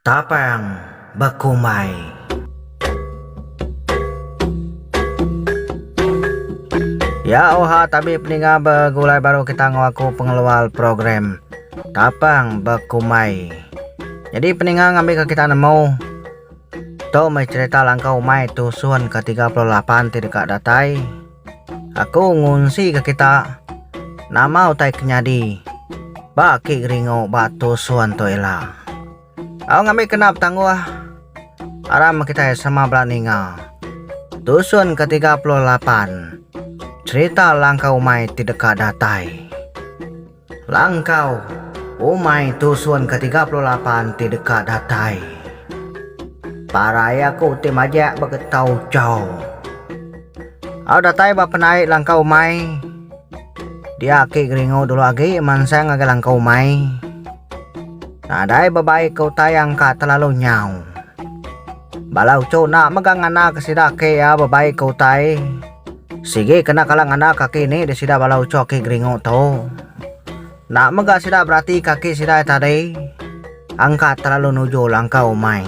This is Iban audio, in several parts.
Tapang bekumbai. Ya oha tabi peninga begulai baru kita enggau aku pengeluar program Tapang Bekumbai. Jadi peninga ngambi ke kita nemu tu meh cerita langkau umai tusun ke 38 ti deka datai. Aku ngunsika kita nama utai ke nyadi ba aki geringu ba tusun tu ila. Au ngambika enda betangguh aram kitai sama bala ninga. Tusun ke tiga puluh lapan, Cherita Langkah Umai ti Deka Datai. Langkau, umai tusun ke tiga puluh lapan ti deka datai. Parai aku ti majak ba getau chau. Au datai ba penait langkau umai. Dia aki Geringo dulu agi mansang ngagai langkau umai. Nadai bebai ke utai yang ka telalu nyau. Bala uchu enda mega ngana ke sida aki iya bebai ke utai. Sigi kena kala ngandar kaki ni di sida bala ucho ki geringu tu. Enda mega sida berati kaki sida ai tadi. Angkat terlalu nuju langkau umai.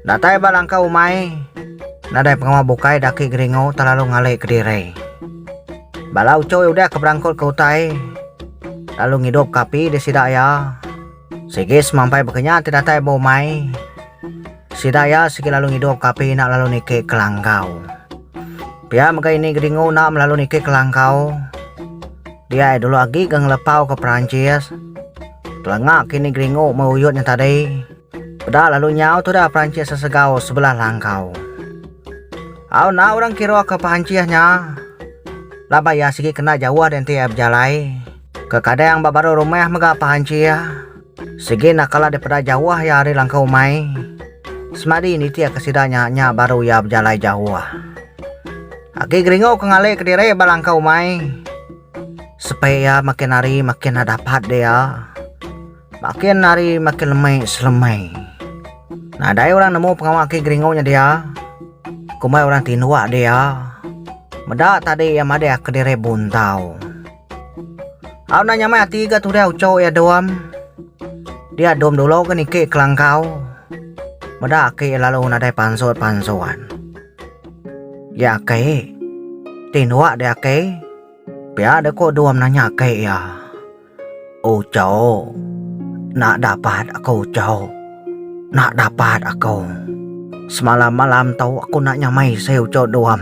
Datai ba langkau umai, nadai pengawa bukai daki geringu terlalu ngali ke diri. Bala ucho udah ke berangkut ke utai lalu ngidup ka api di sida iya. Sigi semampai baka nya ti datai ba umai. Sida iya sigi lalu ngidup ka api enda lalu niki ke langkau. Pia mega ini Gedingu enda melalu niki ke langkau. Dia iya dulu agi ga ngelepau ka Perancis. Telanga ke ini Gedingu meh uyut nya tadi. Peda lalu nyau tudah Perancis sesegau sebelah langkau. Au enda orang kira ka Perancis nya laban iya sigi kena jauh di enti iya bejalai. Ke kadang ba baruh rumah mega pehanchi iya. Sigi enda kala dipeda jauh iya ari langkau umai. Semadi nitihka sida nya, nya baru iya bejalai jauh. Agi geringu ke ngalih kediri ba langkau umai. Sepi iya makin hari makin enda dapat dia. Makin hari makin lemi selemi. Nadai orang nemu pengawa agi geringu nya dia. Kombai orang tinduk dia. Meda tadi iya madah kediri buntau. Au na nyamai ati ga tudah ucho ya dom. Dia dom dulu ke niki kelangkau. Meda aki lalu nadai pansut pansuan. Ya aki. Tindua dia aki. Pia de ko dom nanya aki ya. Ucho. Nak dapat aku ucho. Nak dapat aku. Semalam malam tu aku nak nyamai si ucho dom.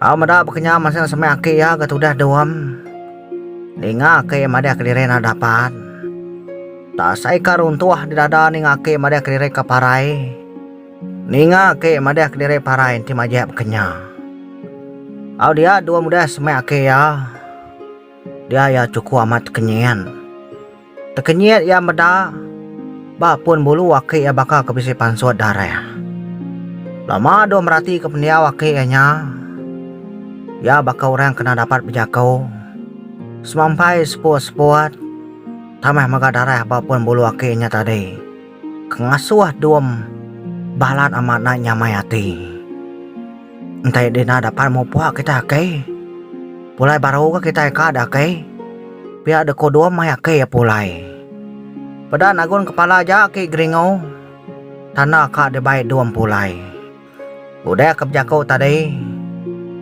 Au meda bekenyau masa nya semai aki iya ke tudah dom. Ninga aki iya madih keliring enda dapat. Enda sai ka runtuh di dada ninga aki madih keliring ka parai. Ninga aki madih keliring parai enti majek bekenya. Au dia dom udah semai aki iya. Dia iya chuku amat kenyien. Tekenyit iya meda ba pun bulu aki iya baka ke bisi pansut darah. Lama dulu meratika pendiau aki iya nya, iya baka orang kena dapat bejaku, semampai seput-seput tambah mega darah ba pun bulu aki iya nya tadi. Ngasuh dom balat amat enda nyamai ati. Enti dina dapat mupuk kitai aki. Pulai baru ke kitai ka da aki. Pia de kudum mai aki iya pulai. Peda nagun kepala aja aki Geringo. Tanda ka dibai dom pulai. Udah ke bejaku tadi,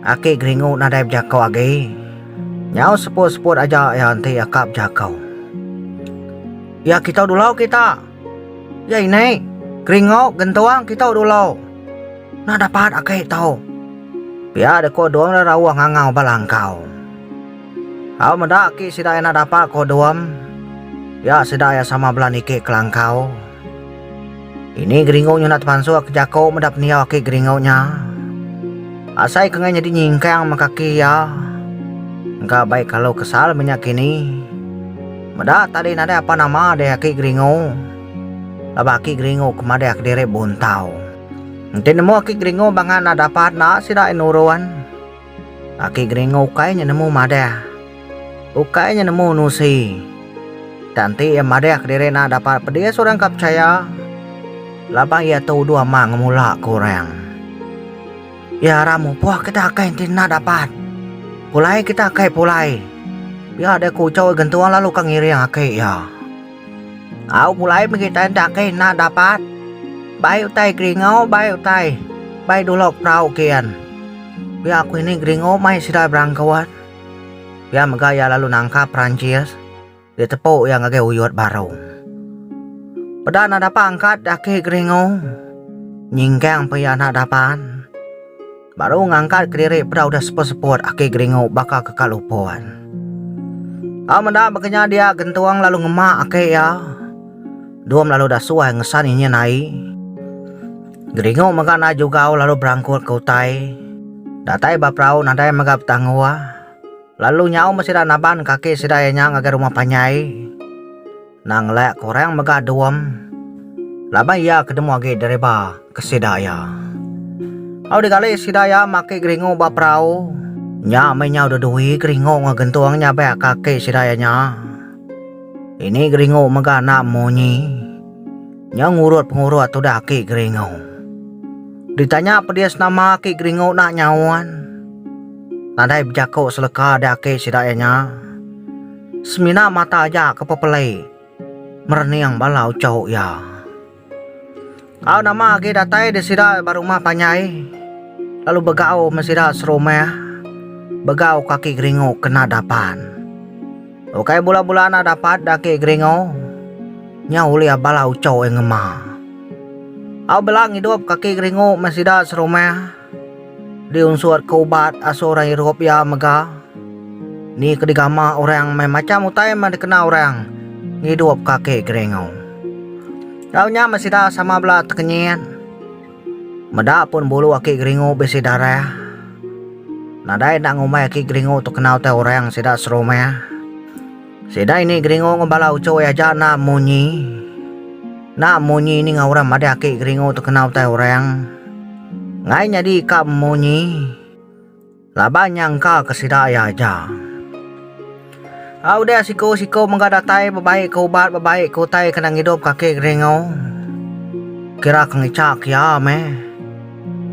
Aki Geringu nadai bejaku agi. Nyau seput-seput aja iya enti iya ka bejaku. Iya kitu dulu kita. Iya ini, Geringu, Gentung, kitu dulu. Nah dapat aki tu. Pia dek ko Dum rauh ngangau ba langkau. Au meda aki sida enda dapat ko Dum. Iya sida iya sama bela niki ke langkau. Ini geringu nyunak temansuk ke jaku meda pendiau aki geringu nya. Asai ke ngai nyadi nyingkang meh kaki iya. Engka bai kalu kesal mih nya kini. Meda tadi nadai apa nama deh aki geringu. Laban aki geringu ke madah kediri buntau. Enti nemu aki geringu bangan enda dapat enda sida ai nurun. Aki Geringo ukai nya nemu madah. Ukai nya nemu nusi. Enda enti iya madah kediri enda dapat pedis orang ka pechaya laban iya tu uduh ama ngemula ke orang. Iya arap mupoh kita akai enti enda dapat pulai kita akai pulai. Pia deh ku uchau gentung lalu ka ngiring aki iya. Au pulai mih kita enda ke enda dapat. Bai utai Gringo bai utai bai dulok perau kian. Pia aku ini Gringo mai sida berangkuat. Pia mega iya lalu nangkap Perancis ditepu iya ngagai uyut baru. Peda enda dapat angkat daki Gringo nyingkang pe iya enda dapat. Baru ngangkat kediri peda udah seput-seput aki Geringu baka ke kalu pun. Au meda bekenya dia Gentung lalu ngema aki iya. Dum lalu dah suai ngesan inyin ai. Geringu mega naik jugau lalu berangkut ke utai. Datai ba perau nadai mega betanggua. Lalu nyau meh sida naban kaki sida iya nya ngagai rumah panjai. Nang lek kurang mega dom. Laban iya ke nemu agi deriba ke sida iya. Au digali sida iya maki geringu ba perau. Nya meh nyau dedui geringu enggau gentung nyabek kaki sida iya nya. Ini geringu mega enda munyi. Nya ngurut pengurut tudah aki geringu. Ditanya pedis nama aki geringu enda nyaut. Nadai bejaku seleka dah aki sida iya nya. Semina mata aja ke pepelai merening bala uchu iya. Au nama agi datai di sida berumah panjai lalu begau me sida serumah begau kaki geringu kena dapan. Ukai bula-bula enda dapat daki geringu nya ulih bala uchu iya ngema. Au bela ngidup kaki geringu me sida serumah. Diunsurka ubat asa orang irup iya mega ni ke digama orang meh macham utai meh dikena orang ngidup kaki Geringau. Tau nya meh sida sama bela tekenyit meda pun bulu aki Geringu bisi darah. Nadai enda ngumbai aki Geringu tu kena utai orang sida serumah. Sida ini geringu enggau bala ucoi aja enda munyi. Enda munyi ninga orang madih aki geringu tu kena utai orang. Ngai nyadi ka munyi. Laban nya engka ke sida iya aja. A udah siku-siku mega datai bebai ke ubat bebai ke utai kena ngidup ka aki geringu. Kira ke ngicha ke iya meh.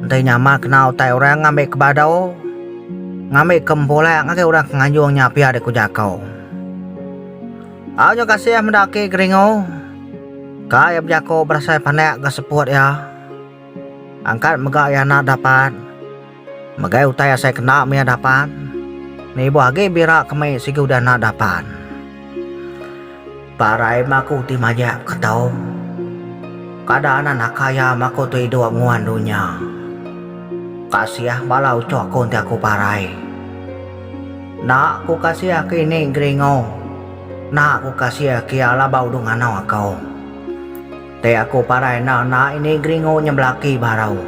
Ndai nyama kena utai orang ngambi ke badu, ngambi ke mepulak ngagai orang ke nganjung nya pia dek ku jako. Au nyau kasih meda aki Geringo. Ka iya bejako berasai panak ga seput iya. Angkat mega iya anak dapat. Megai utai asai kena mih iya dapat. Nibuh agi bira ke mei sigi udah anak dapat. Parai maku ti majak ke tau. Kada anak naka iya maku tu idup nguan dunya. Kasiah bala ucuk ku enti aku parai. Nak ku kasiah ke ini Gringo. Nak ku kasiah ke iya laban udu nganau aku. Ti aku parai enda nak ini Gringo nya belaki baru.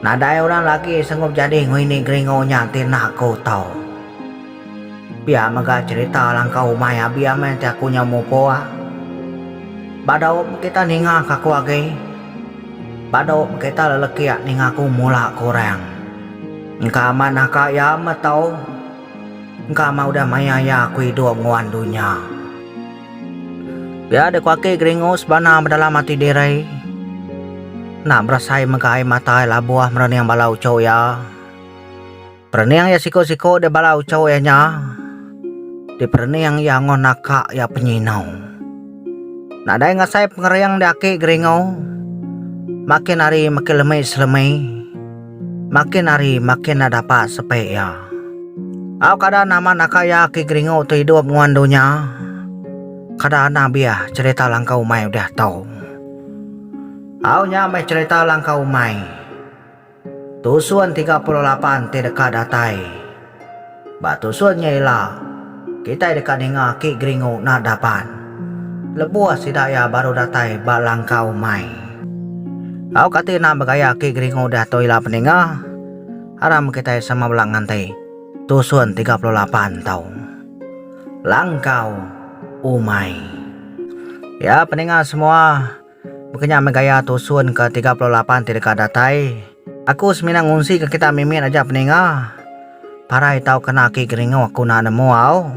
Nadai orang lagi sanggup jadi enggau ini Gringo nya ti nak ku tau. Pia mega cherita langkau umai Abim eh enti aku nyau mupuk. Ba daup kita ninga ka aku agi. Ba daup kita lelekik ninga aku mula ka orang. Engka amat naka iya met tau. Engka amat udah maya iya aku idup nguan dunya. Pia dek waki geringu sebana bedalam ati diri. Enda berasai mega ai mata iya labuh merening bala uchu iya. Perening iya siko-siko dek bala ucho iya nya, ti perening iya angoh naka iya penyinau. Nadai ngasai pengering dek aki Geringo, makin hari makin lemi selemi, makin hari makin enda dapat sepe iya. Au kada nama naka iya aki Geringo tu idup nguan dunya, kada anang biah cerita langkah umai udah tau. Au nya meh cerita langkah umai. Tusun tiga puluh lapan ti deka datai. Ba tusun nya ila, kitai deka ninga aki Geringu nadh dapan lebuh sida iya baru datai ba langkau mai. Tau kati enda begaya aki Geringu diatu ila peninga? Aram kitai sama bela nganti tusun tiga puluh lapan tu. Langkau umai. Ya peninga semua, Baka nya meh gaya tusun ke tiga puluh lapan ti deka datai, aku semina ngunsika kita mimit aja peninga. Parai tau kena aki geringu aku enda nemu au.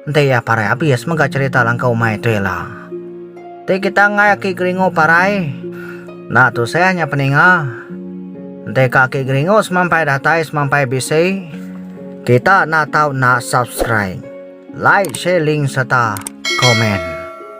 Enti iya parai abis mega cherita langkau umai tu ila. Enti kita enggai aki geringu parai, enda tusah nya peninga. Enti ka aki geringu semampai datai semampai bisi, kita enda tau enda subscribe, like share link sereta komen.